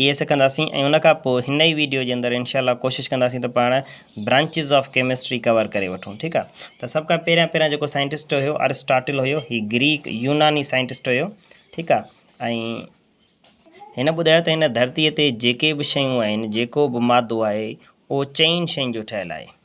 اهي سکنداسين ۽ ان کان پوء هن ئي ويڊيو جي اندر انشاء الله ڪوشش ڪنداسين ته پاڻ برانچز آف ڪيمسٽري ڪور ڪري وٺون ٺيڪ آ ته سڀ کان پهريان پهريان جيڪو سائنٽسٽ هيو ارسٽاٽل هيو هي گريڪ يوناني سائنٽسٽ هيو ٺيڪ آ ۽ هن ٻڌايو ته هن ڌرتي تي جيڪي به شيون آهن جيڪو به مادو آهي اهو چئن شين جو ٺهيل آهي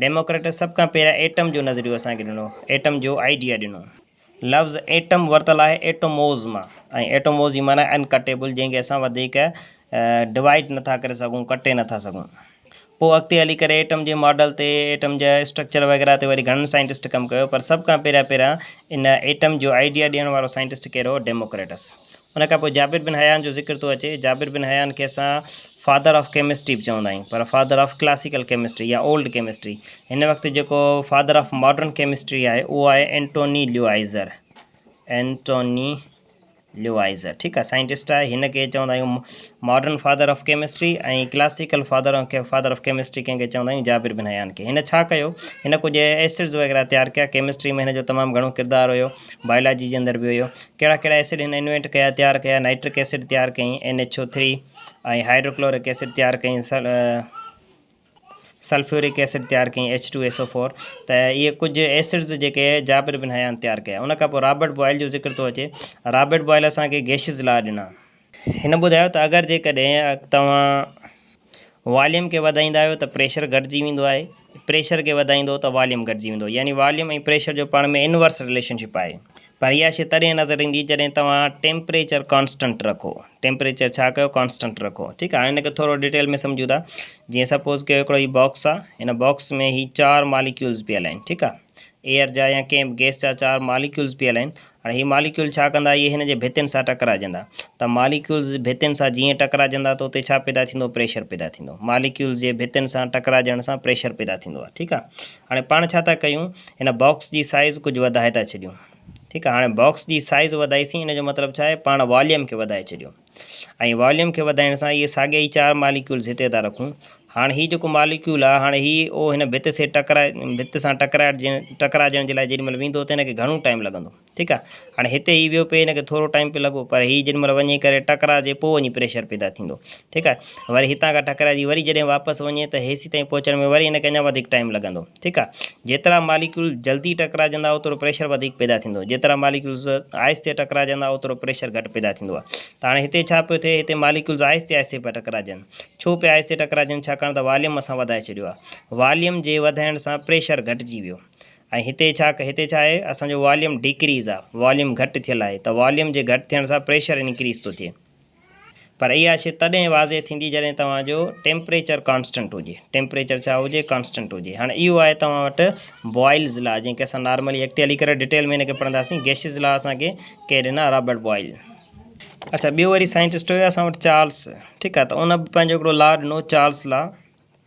ڊيموڪريٽس سڀ کان پهريان ايٽم جو نظريو اسان کي ڏنو، ايٽم جو آئيڊيا ڏنو. لفظ ايٽم ورتل آهي ايٽوموز مان ۽ ايٽوموز جي معنيٰ ان ڪٽيبل جنهن کي اسان وڌيڪ ڊوائيڊ نه ٿا ڪري سگهون، ڪٽي نه ٿا سگهون. پوء اڳتي هلي ڪري ايٽم جي ماڊل تي، ايٽم جي اسٽرڪچر وغيره تي وري گهڻن سائنٽسٽ ڪم ڪيو پر سڀ کان پهريان پهريان ان ايٽم جو آئيڊيا ڏيڻ وارو سائنٽسٽ ڪير هو، ڊيموڪريٽس. ان کان پوء جابر بن حيان جو ذڪر ٿو اچي، جابر بن حيان کي اسان فادر آف ڪيمسٽري به چوندا آهيون پر فادر آف ڪلاسيڪل ڪيمسٽري يا اولڊ ڪيمسٽري هن وقت جيڪو فادر آف ماڊرن ڪيمسٽري آهي اهو آهي اينٽوني ليوائزر اينٽوني ليوائزر ٺيڪ آهي سائنٽسٽ آهي هن کي چوندا آهيون modern father of chemistry ۽ classical father father of chemistry ڪنهن کي چوندا آهيون جابر بن حيان کي هن ڇا ڪيو هن ڪجهه ايسڊز وغيره تيار ڪيا ڪيمسٽري ۾ هن جو تمام گهڻو ڪردار هيو بايولاجي جي اندر به هيو ڪهڙا ڪهڙا ايسڊ هن انوينٽ ڪيا تيار ڪيا نائٽرڪ ايسڊ تيار ڪئي N H O three ۽ hydrochloric acid تيار ڪئي سلفيورڪ ايسڊ تيار ڪئي H two S O four ته اهي ڪجهه ايسڊز جيڪي جابر بن حيان تيار ڪيا ان کان پوء رابرٽ بوائل جو ذڪر ٿو اچي رابرٽ بوائل اسانکي گيشز لا ڏنا هن ٻڌايو ته اگر جيڪڏهن توهان واليوم کي وڌائيندا آهيو ته پريشر گهٽجي ويندو آهي پريشر کي وڌائيندو ته واليوم گهٽجي ويندو يعني واليوم ۽ پريشر جو پاڻ ۾ انورس رليشن شپ آهي پر اها شي تڏهن نظر ايندي جڏهن توهان ٽيمپريچر ڪانسٽنٽ رکو ٽيمپريچر ڇا ڪيو ڪانسٽنٽ رکو ٺيڪ آهي هاڻي هن کي ٿورو ڊيٽيل ۾ سمجهون ٿا جيئن سپوز ڪيو هڪڙو هي باڪس آهي هن باڪس ۾ هي چار ماليڪيولز پيل آهن ٺيڪ آهي ايئر جا يا ڪنهن به گيس جا چار ماليڪيولز پيل آهن هاڻي هي ماليڪيول ڇا ڪندا اهي هن جي ڀتين سان ٽڪرائجندا ته ماليڪيولز ڀتين سان جيئن ٽڪرائجندا ته اتي ڇا پيدا ٿيندو پريشر پيدا ٿيندو ماليڪيولز جي ڀتين سان ٽڪرائجڻ سان پريشر پيدا ٿيندو آهي ٺيڪ آهي هاڻي پاڻ ڇا ٿا ڪيون هن باڪس جي سائز ڪجهه وڌائي ٿا ڇڏيون ٺيڪ آهي هاڻي باڪس جي سائز وڌائيسين ان جو مطلب ڇا آهي پاڻ واليوم کي وڌائي ڇڏيون ۽ واليوم کي وڌائڻ سان اهي ساڳيا ئي چار ماليڪيولز هتي ٿا رکون هاڻ هي جيڪو ماليڪيول آهي هاڻ هي او هن ڀت سي ٽڪرائي ڀت سان ٽڪرائجي ٽڪرائجڻ جي لاء جيڏي مهل ويندو ته هن کي گهڻو ٽائيم لڳندو ٺيڪ آهي هاڻ هتي هي ويو پئي هن کي ٿورو ٽائيم پئي لڳو پر هي جيڏي مهل وڃي ڪري ٽڪرائجي پوء وڃي پريشر پيدا ٿيندو ٺيڪ آهي وري هتان کان ٽڪرائجي وري جڏهن واپس وڃي ته هيسي تائين پهچڻ ۾ وري هن کي اڃا وڌيڪ ٽائيم لڳندو ٺيڪ آ جيترا ماليڪيولز جلدي ٽڪراجندا اوترو پريشر وڌيڪ پيدا ٿيندو جيترا ماليڪيولز آهستي ٽڪراجندا اوترو پريشر گهٽ پيدا ٿيندو آ ته هاڻي هتي ڇا پيو ٿئي هتي ماليڪيولز آهستي آهستي پيا ٽڪراجن ڇو پيا آهستي ٽڪراجن ڇاڪاڻ ته واليوم اسان وڌائي ڇڏيو آ واليوم جي وڌائڻ سان پريشر گهٽجي ويو ۽ هتي ڇا هتي ڇا آهي اسان جو واليوم ڊيڪريز آ واليوم گهٽ ٿيل آهي ته واليوم جي گهٽ ٿيڻ سان پريشر انڪريز ٿو ٿئي پر اها شي تڏهن واضح ٿيندي جڏهن توهان جو ٽيمپريچر ڪانسٽنٽ هجي. ٽيمپريچر ڇا هجي؟ ڪانسٽنٽ هجي. هاڻي اهو آهي توهان وٽ بوائلز لا جنهن کي اسان نارملي اڳتي هلي ڪري ڊيٽيل ۾ هن کي پڙهنداسين. گيشز لا اسان کي ڪنهن ڏنا؟ Robert Boyle. اڇا ٻيو وري سائنٽسٽ هيو اسان وٽ چارلس ٺيڪ آهي ته ان به پنهنجو هڪڙو لا ڏنو چارلس لا.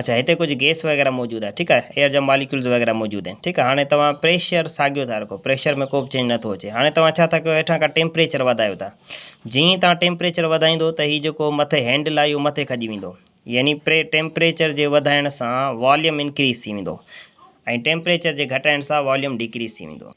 اچا هتي ڪجهه گيس وغيره موجود آهي ٺيڪ آهي ايئر جا ماليڪيولز وغيره موجود آهن ٺيڪ آهي هاڻي توهان پريشر ساڳيو ٿا رکو پريشر ۾ ڪو به چينج نٿو اچي هاڻي توهان ڇا ٿا ڪيو هيٺان کان ٽيمپريچر وڌايو ٿا جيئن ئي توهان ٽيمپريچر وڌائيندو ته هي جيڪو مٿي هينڊل آهي اهو مٿي کڄي ويندو يعني پري ٽيمپريچر جي وڌائڻ سان واليوم انڪريز ٿي ويندو ۽ ٽيمپريچر جي گهٽائڻ سان واليوم ڊڪريز ٿي ويندو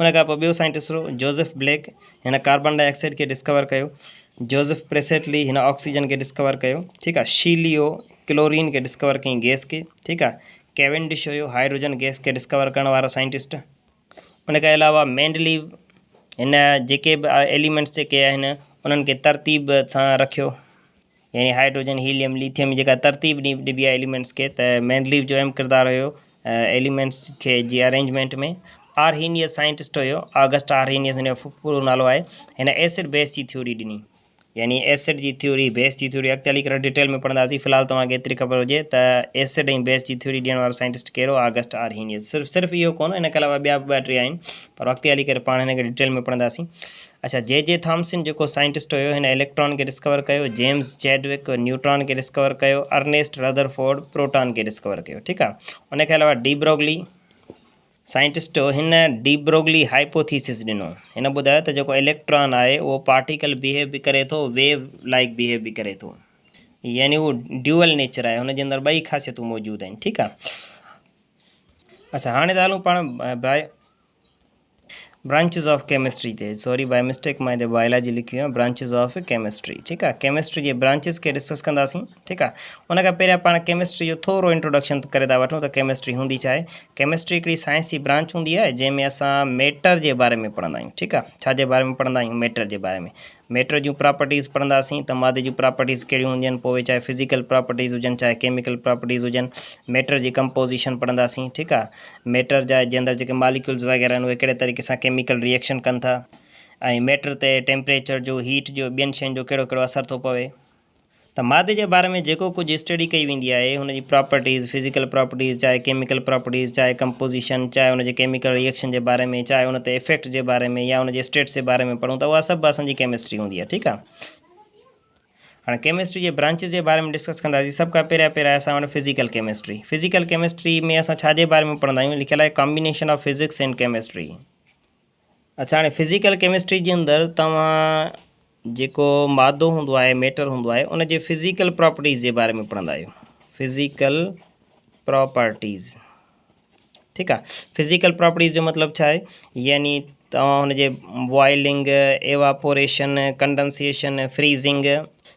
ان کان پوء ٻيو سائنٽسٽ هو جوزف بليڪ، هن ڪاربان ڊاء آڪسائيڊ کي ڊسڪور ڪيو، جوزف پريسٽلي، هن آڪسيجن کي ڊسڪور ڪيو، ٺيڪ آ، شي ليو، ڪلورين کي ڊسڪور ڪيائين گئس کي، ٺيڪ آ، ڪيونڊش هيو، هائيڊروجن گئس کي ڊسڪور ڪرڻ وارو سائنٽسٽ، ان کان علاوه مينڊليو، هن جيڪي به ايليمينٽس جيڪي آهن انهن کي ترتيب سان رکيو. يعني هائيڊروجن هيليم ليٿيم جيڪا ترتيب ڏبي آهي ايليمينٽس کي ته مينڊليف جو اهم ڪردار هيو ايليمينٽس کي جي ارينجمينٽ ۾ آرهينيس سائنٽسٽ هيو آگسٽ آرهينيس هن جو پورو نالو آهي هن ايسڊ بيس جي ٿيوري ڏني يعني ايسڊ جي ٿيوري بيس جي ٿيوري اڳتي هلي ڪري ڊيٽيل ۾ پڙهنداسين في الحال توهان کي ايتري خبر هجي ته ايسڊ ۽ بيس جي ٿيوري ڏيڻ وارو سائنٽسٽ ڪهڙو آگسٽ آرهينيس صرف صرف اهو ڪون هن کان علاوه ٻيا به ٻه ٽي آهن پر اڳتي هلي ڪري پاڻ هن کي ڊيٽيل ۾ پڙهنداسين اڇا جي جي ٿامسن جيڪو سائنٽسٽ هيو هن اليڪٽران کي ڊسڪور ڪيو جيمز چيڊوڪ نيوٽران کي ڊسڪور ڪيو ارنيسٽ رڌرفورڊ پروٽان کي ڊسڪور ڪيو ٺيڪ آهي ان کي علاوه ڊي بروگلي سائنٽسٽ هو هن ڊي بروگلي هائپوٿيسس ڏنو هن ٻڌايو ته جيڪو اليڪٽران آهي اهو پارٽيڪل بيهيو به ڪري ٿو ويو لائڪ بيهيو به ڪري ٿو يعني هو ڊيول نيچر آهي هن جي اندر ٻئي خاصيتون موجود آهن ٺيڪ آهي اچھا هاڻي ته هلون پاڻ باء برانچز آف ڪيمسٽري تي سوري بائي مسٽيڪ مان هتي بائيلاجي لکي ويو برانچز آف ڪيمسٽري ٺيڪ آهي ڪيمسٽري جي برانچز کي ڊسڪس ڪنداسين ٺيڪ آهي ان کان پهريان پاڻ ڪيمسٽري جو ٿورو انٽروڊڪشن ڪري ٿا وٺون ته ڪيمسٽري هوندي ڇا آهي ڪيمسٽري هڪڙي سائنسي برانچ هوندي آهي جنهن ۾ اسان ميٽر جي باري ۾ پڙهندا آهيون ٺيڪ آهي ڇا جي باري ۾ پڙهندا آهيون ميٽر جي باري ۾ ميٽر جون پراپرٽيز پڙهنداسين ته مادي جون پراپرٽيز ڪهڙيون هونديون آهن پوء چاهي فزيڪل پراپرٽيز هجن چاهي ڪيميڪل پراپرٽيز هجن ميٽر جي ڪمپوزيشن پڙهنداسين ٺيڪ آهي ميٽر جا جي اندر جيڪي ماليڪيولز وغيره آهن اهي ڪهڙي طريقي سان ڪيميڪل ريئڪشن ڪن ٿا ۽ ميٽر تي ٽيمپريچر جو هيٽ جو ٻين شين جو ڪهڙو ڪهڙو اثر ٿو پوي ته مادي جي باري ۾ جيڪو ڪجهه اسٽڊي ڪئي ويندي آهي ان جي پراپرٽيز، فزيڪل پراپرٽيز، چاهي ڪيميڪل پراپرٽيز، چاهي ڪمپوزيشن، چاهي ان جي ڪيميڪل ري ايڪشن جي باري ۾، چاهي ان تي افيڪٽس جي باري ۾ يا ان جي اسٽيٽس جي باري ۾ پڙهون ته اها سڀ اسان جي ڪيمسٽري هوندي آهي ٺيڪ آهي. هاڻي ڪيمسٽري جي برانچز جي باري ۾ ڊسڪس ڪنداسين سڀ کان پهريان پهريان اسان وٽ فزيڪل ڪيمسٽري فزيڪل ڪيمسٽري ۾ اسان ڇا جي باري ۾ پڙهندا آهيون لکيل آهي combination of physics and chemistry اڇا هاڻي فزيڪل ڪيمسٽري جي اندر توهان جيڪو مادو هوندو آهي ميٽر هوندو آهي ان جي فزيڪل پراپرٽيز جي باري ۾ پڙهندا آهيو فزيڪل پراپرٽيز ٺيڪ آ فزيڪل پراپرٽيز جو مطلب ڇا آهي يعني توهان هن جي بوائلنگ ايواپوريشن ڪنڊنسيشن فريزنگ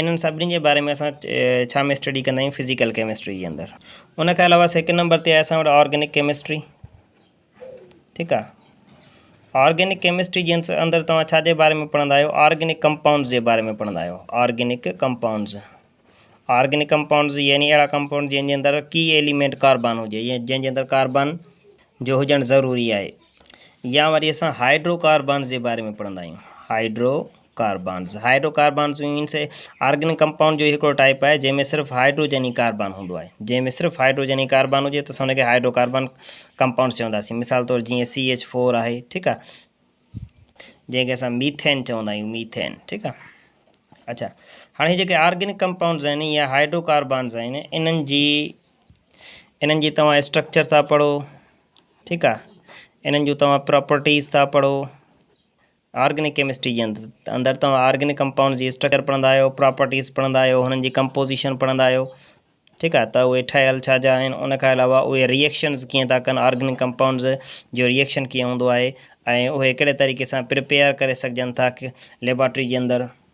انهن سڀني جي باري ۾ اسان ڇا ۾ اسٽڊي ڪندا آهيون فزيڪل ڪيمسٽري جي اندر ان کان علاوه سيڪنڊ نمبر تي آهي اسان وٽ آرگينڪ ڪيمسٽري ٺيڪ آ آرگينڪ ڪيمسٽري جي اندر توهان ڇا جي باري ۾ پڙهندا آهيو آرگينڪ ڪمپائونڊز جي باري ۾ پڙهندا آهيو آرگينڪ ڪمپائونڊز آرگينڪ ڪمپائونڊز يعني اهڙا ڪمپائونڊ جن جي اندر ڪي ايليمينٽ ڪاربان هجي يا جن جي اندر ڪاربان جو هجڻ ضروري آهي يا وري اسان هائيڊرو ڪاربانز جي باري ۾ پڙهندا آهيون hydrocarbons, hydrocarbons means اي، آرگنڪ ڪمپائونڊ جو هي هڪڙو ٽائيپ آهي جنهن ۾ صرف هائڊروجن ئي ڪاربان هوندو آهي. جنهن ۾ صرف هائڊروجن ئي ڪاربان هجي ته اسان ان کي هائڊرو ڪاربان ڪمپائونڊز چونداسين. مثال طور جيئن سي ايڇ فور آهي ٺيڪ آ جنهن کي اسان ميٿين چوندا آهيون ميٿين ٺيڪ آ اچھا هاڻي هي جيڪي آرگنڪ ڪمپائونڊز آهن يا هائڊرو ڪاربانز آهن انهن جي انهن جي توهان اسٽرڪچر ٿا پڙهو ٺيڪ آ انهن جون توهان پراپرٽيز ٿا پڙهو آرگنڪ ڪيمسٽري جي اندر توهان آرگنڪ ڪمپائونڊ جي اسٽرڪر پڙهندا آهيو پراپرٽيز پڙهندا آهيو هنن جي ڪمپوزيشن پڙهندا آهيو ٺيڪ آهي ته اهي ٺهيل ڇا جا آهن ان کان علاوه اهي ريئڪشنز ڪيئن ٿا ڪن آرگنڪ ڪمپائونڊز جو ريئڪشن ڪيئن هوندو آهي ۽ اهي ڪهڙي طريقي سان پرپيئر ڪري سگهجن ٿا ليبارٽري جي اندر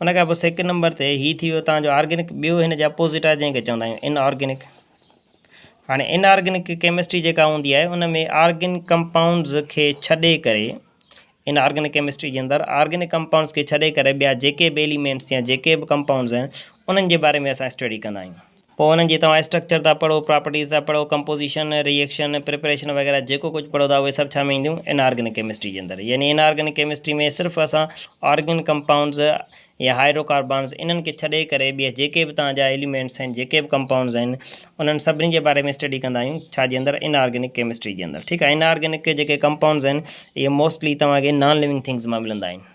ان کان پوء سيڪنڊ نمبر تي هي ٿي ويو تان جو آرگينڪ ٻيو هن جي اپوزٽ آهي جنهن کي چوندا آهيون ان آرگينڪ هاڻي ان آرگينڪ ڪيمسٽري جيڪا هوندي آهي ان ۾ آرگينڪ ڪمپائونڊز کي ڇڏي ڪري ان آرگينڪ ڪيمسٽري جي اندر آرگينڪ ڪمپائونڊز کي ڇڏي ڪري ٻيا جيڪي به ايليمينٽس يا جيڪي به ڪمپائونڊز آهن انهن جي باري ۾ اسان اسٽڊي ڪندا آهيون پوء انهن جي توهان اسٽرڪچر ٿا پڙهو، پراپرٽيز ٿا پڙهو، ڪمپوزيشن، ري ايڪشن، پريپريشن وغيره جيڪو ڪجهه پڙهو ٿا اهي سڀ ڇا ۾ اينديون ان آرگنڪ ڪيمسٽري جي اندر يعني ان آرگنڪ ڪيمسٽري ۾ صرف اسان آرگنڪ ڪمپائونڊز يا هائيڊرو ڪاربانز انهن کي ڇڏي ڪري ٻيا جيڪي به توهان جا ايليمينٽس آهن جيڪي به ڪمپائونڊز آهن انهن سڀني جي باري ۾ اسٽڊي ڪندا آهيون ڇا جي اندر ان آرگنڪ ڪيمسٽري جي اندر ٺيڪ آهي ان آرگنڪ جيڪي ڪمپائونڊز آهن اهي موسٽلي توهان کي نان لوينگ ٿنگز مان ملندا آهن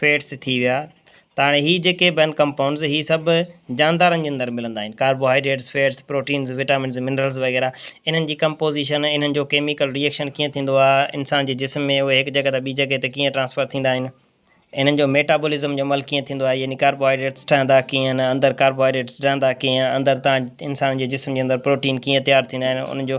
فيٽس ٿي ويا ته هاڻي هي جيڪي به آهن ڪمپائونڊز هي سڀ جاندارن جي اندر ملندا آهن carbohydrates fats proteins vitamins minerals وغيره انهن جي ڪمپوزيشن انهن جو ڪيميڪل ريئڪشن ڪيئن ٿيندو آهي انسان جي جسم ۾ اهي هڪ جڳهه تان ٻي جڳهه تي ڪيئن ٽرانسفر ٿيندا آهن انهن جو ميٽابولزم جو عمل ڪيئن ٿيندو آهي يعني ڪاربوهائيڊريٽس ٺهندا ڪيئن آهن اندر ڪاربوهائيڊريٽس ڊهندا ڪيئن آهن اندر تان انسان جي جسم جي اندر پروٽين ڪيئن تيار ٿيندا آهن انهن جو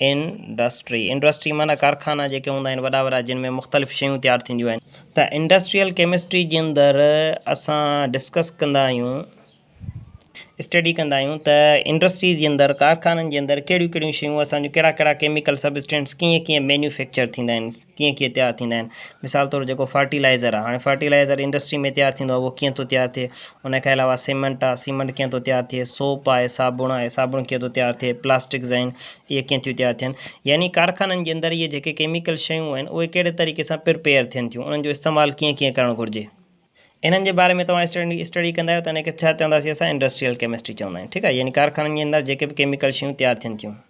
انڊسٽري، Industry، معنيٰ ڪارخانا جيڪي هوندا آهن وڏا وڏا جن ۾ مختلف شيون تيار ٿينديون آهن ته انڊسٽريل ڪيمسٽري جي اندر اسان ڊسڪس ڪندا آهيون اسٽڊي ڪندا آهيون ته انڊسٽريز جي اندر ڪارخانن جي اندر ڪهڙيون ڪهڙيون شيون اسان جون ڪهڙا ڪهڙا ڪيميڪل سبسٽنٽس ڪيئن ڪيئن مينيوفيڪچر ٿيندا آهن ڪيئن ڪيئن تيار ٿيندا آهن مثال طور جيڪو فرٽيلائزر آهي هاڻي فرٽيلائزر انڊسٽري ۾ تيار ٿيندو آهي اهو ڪيئن ٿو تيار ٿئي ان کان علاوه سيمنٽ آهي سيمنٽ ڪيئن ٿو تيار ٿئي سوپ آهي صابڻ آهي صابڻ ڪيئن ٿو تيار ٿئي پلاسٽڪس آهن اهي ڪيئن ٿيون تيار ٿين يعني ڪارخانن جي اندر اهي جيڪي ڪيميڪل شيون آهن اهي ڪهڙي طريقي سان پرپيئر ٿين ٿيون انهن جو استعمال ڪيئن ڪيئن ڪرڻ گهرجي انهن جي باري ۾ توهان اسٽنڊي اسٽڊي ڪندا آهيو ته ان کي ڇا چونداسين اسان انڊسٽريل ڪيمسٽري چوندا آهيون ٺيڪ آهي يعني ڪارخانن جي اندر جيڪي به ڪيميڪل شيون تيار ٿين ٿيون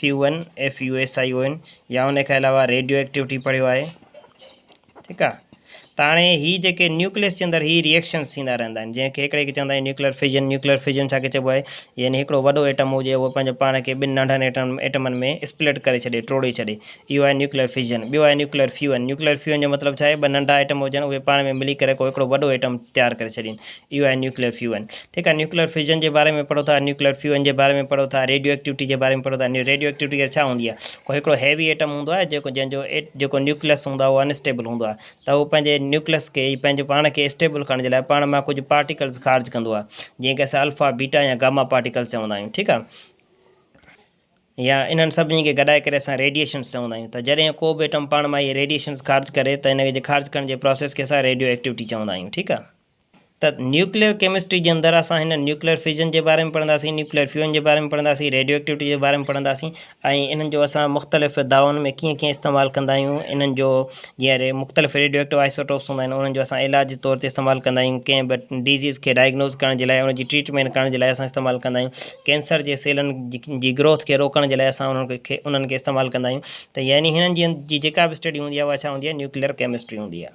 فيوئن FUSION يا ان کان علاوه ريڊيو ايڪٽيوٽي پڙهيو آهي ٺيڪ آ ته هاڻي هي جيڪي نيوڪليس جي اندر هي ريئڪشنس ٿيندا رهندا آهن جنهن کي هڪڙي کي چوندا آهن نيوڪليئر فيجن نيوڪليئر فيجن ڇا کي چئبو آهي يعني هڪڙو وڏو ايٽم هجي اهو پنهنجو پاڻ کي ٻن ننڍن ايٽم ايٽمن ۾ اسپلٽ ڪري ڇڏي ٽوڙي ڇڏي اهو آهي نيوڪليئر فيجن ٻيو آهي نيوڪليئر فيون نيوڪليئر فيون جو مطلب ڇا آهي ٻه ننڍا ايٽم هجن اهي پاڻ ۾ ملي ڪري ڪو هڪڙو وڏو ايٽم تيار ڪري ڇڏين اهو آهي نيوڪليئر فيوئن. ٺيڪ آهي نيوڪليئر فيوزن جي باري ۾ پڙهو ٿا، نيوڪليئر فيوئن جي باري ۾ پڙهو ٿا، ريڊيو ايڪٽيوٽي جي باري ۾ پڙهو ٿا. ريڊيو ايڪٽيوٽي ڪير ڇا هوندي آهي؟ ڪو هڪڙو هيوي ايٽم هوندو آهي جيڪو جنهن جو جيڪو نيوڪليئس هوندو آهي اهو انسٽيبل هوندو آهي ته هو پنهنجي نيوڪليئس کي پنهنجو پاڻ کي اسٽيبل ڪرڻ جي لاء پاڻ مان ڪجهه پارٽيڪلز خارج ڪندو آهي جنهن کي اسان الفا بيٽا يا گاما پارٽيڪلز چوندا آهيون ٺيڪ آهي يا انهن سڀني کي گڏائي ڪري اسان ريڊيشنس چوندا آهيون ته جڏهن ڪو به ايٽم پاڻ مان اهي ريڊيشنس خارج ڪري ته ان کي خارج ڪرڻ جي پروسيس کي اسان ريڊيو ايڪٽيوٽي چوندا آهيون ٺيڪ آهي ته نيوڪليئر ڪيمسٽري جي اندر اسان هن نيوڪليئر فيزن جي باري ۾ پڙهنداسين، نيوڪليئر فيون جي باري ۾ پڙهنداسين، ريڊيو ايڪٽيوٽي جي باري ۾ پڙهنداسين ۽ انهن جو اسان مختلف دعوائن ۾ ڪيئن ڪيئن استعمال ڪندا آهيون، انهن جو جيئن مختلف ريڊيو ايڪٽو آئسوٽوپس هوندا آهن انهن جو اسان علاج جي طور تي استعمال ڪندا آهيون، ڪنهن به ڊزيز کي ڊائگنوز ڪرڻ جي لاء ان جي ٽريٽمينٽ ڪرڻ جي لاء اسان استعمال ڪندا آهيون، ڪينسر جي سيلن جي گروٿ کي روڪڻ جي لاء اسان انهن کي انهن کي استعمال ڪندا آهيون ته يعني هنن جي جيڪا به اسٽڊي هوندي آهي اها ڇا هوندي آهي نيوڪليئر ڪيمسٽري هوندي آهي.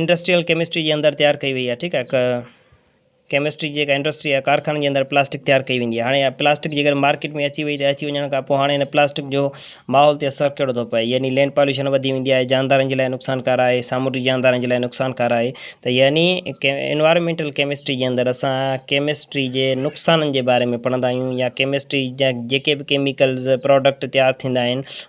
انڊسٽريل ڪيمسٽري جي اندر تيار ڪئي وئي آهي ٺيڪ آهي ڪيمسٽري جيڪا انڊسٽري آهي ڪارخانن جي اندر پلاسٽڪ تيار ڪئي ويندي آهي هاڻي پلاسٽڪ جي ڪڏهن مارڪيٽ ۾ اچي وئي ته اچي وڃڻ کان پوء هاڻي هن پلاسٽڪ جو ماحول تي اثر ڪهڙو ٿو پئي يعني لينڊ پاليوشن وڌي ويندي آهي جاندارن جي لاء نقصان ڪار آهي سامونڊي جاندارن جي لاء نقصان ڪار آهي ته يعني انوائرمينٽل ڪيمسٽري جي اندر اسان ڪيمسٽري جي نقصانن جي باري ۾ پڙهندا آهيون يا ڪيمسٽري جا جيڪي به ڪيميڪلز پروڊڪٽ تيار ٿيندا آهن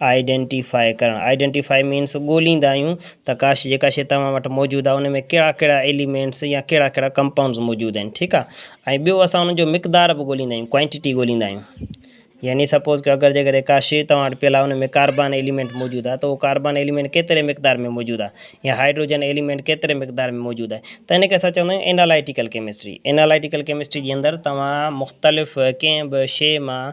Identify ڪرڻ Identify means ڳوليندا آهيون ته ڪاش جيڪا شيء توهان وٽ موجود آهي ان ۾ ڪهڙا ڪهڙا Elements يا ڪهڙا ڪهڙا Compounds موجود آهن ٺيڪ آهي ۽ ٻيو اسان ان جو مقدار به ڳوليندا آهيون Quantity ڳوليندا آهيون يعني سپوز ڪيو اگر جي ڪڏهن ڪا شيء توهان وٽ پيل آهي ان ۾ ڪاربان Element موجود آهي ته اهو ڪاربان Element ڪيتري مقدار ۾ موجود آهي يا هائڊروجن Element ڪيتري مقدار ۾ موجود آهي ته ان کي اسان چوندا آهيون Analytical Chemistry Analytical Chemistry جي اندر توهان مختلف ڪنهن به شيء مان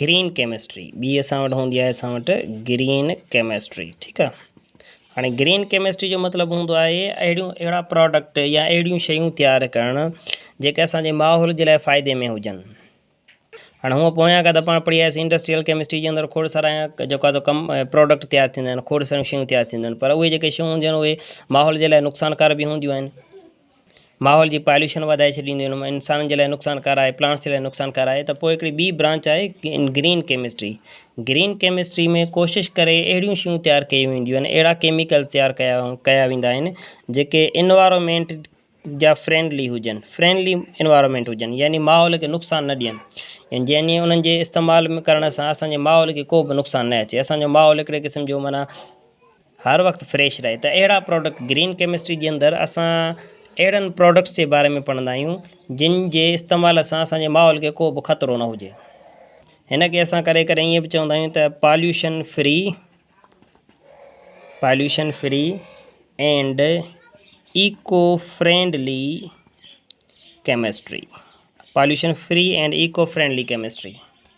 گرين ڪيمسٽري ٻي اسان وٽ هوندي آهي اسان وٽ گرين ڪيمسٽري ٺيڪ آ هاڻي گرين ڪيمسٽري جو مطلب هوندو آهي اهڙيون اهڙا پراڊڪٽ يا اهڙيون شيون تيار ڪرڻ جيڪي اسانجي ماحول جي لاء فائدي ۾ هجن هاڻي هونء پويان کان ته پاڻ پڙهي آياسين انڊسٽريل ڪيمسٽري جي اندر کوڙ سارا جيڪو آهي سو ڪم پراڊڪٽ تيار ٿيندا آهن کوڙ ساريون شيون تيار ٿينديون آهن پر اهي جيڪي شيون هونديون آهن اهي ماحول جي لاء نقصانڪار به هونديون آهن ماحول جي پاليوشن وڌائي ڇڏينديون آهن مان انسانن جي لاء نقصانڪار آهي پلانٽس جي لاء نقصانڪار آهي ته پوء هڪڙي ٻي برانچ آهي گرين ڪيمسٽري گرين ڪيمسٽري ۾ ڪوشش ڪري اهڙيون شيون تيار ڪيون وينديون آهن اهڙا ڪيميڪلس تيار ڪيا ڪيا ويندا آهن جيڪي انوائرامينٽ جا فرينڊلي هجن فرينلي انوائرامينٽ هجن يعني ماحول کي نقصان نه ڏين ۽ جنهن ڏينهن انهن جي استعمال ۾ ڪرڻ سان اسانجي ماحول کي ڪو به نقصان نه اچي اسانجو ماحول هڪڙي قسم جو معنيٰ هر وقت فريش رهي ته اهڙا پروڊڪٽ گرين ڪيمسٽري جي اندر اسان اهڙن پروڊڪٽس جي باري ۾ پڙهندا آهيون جن جي استعمال سان اسان جي ماحول کي ڪو به خطرو نه هجي هن کي اسان ڪڏهن ڪڏهن ائين به چوندا آهيون ته pollution free pollution free and eco friendly chemistry pollution free and eco friendly chemistry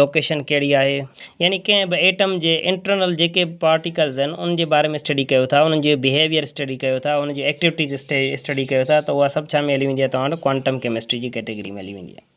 location ڪهڙي آهي؟ يعني ڪنهن به ايٽم جي انٽرنل جيڪي به پارٽيڪلز آهن انهن جي باري ۾ اسٽڊي ڪيو ٿا انهن جو بيهيويئر اسٽڊي ڪيو ٿا انهن جي ايڪٽيوٽيز اسٽڊي ڪيو ٿا ته اها سڀ ڇا ۾ هلي ويندي آهي توهان وٽ ڪوانٽم ڪيمسٽري جي ڪيٽيگري ۾ هلي ويندي آهي.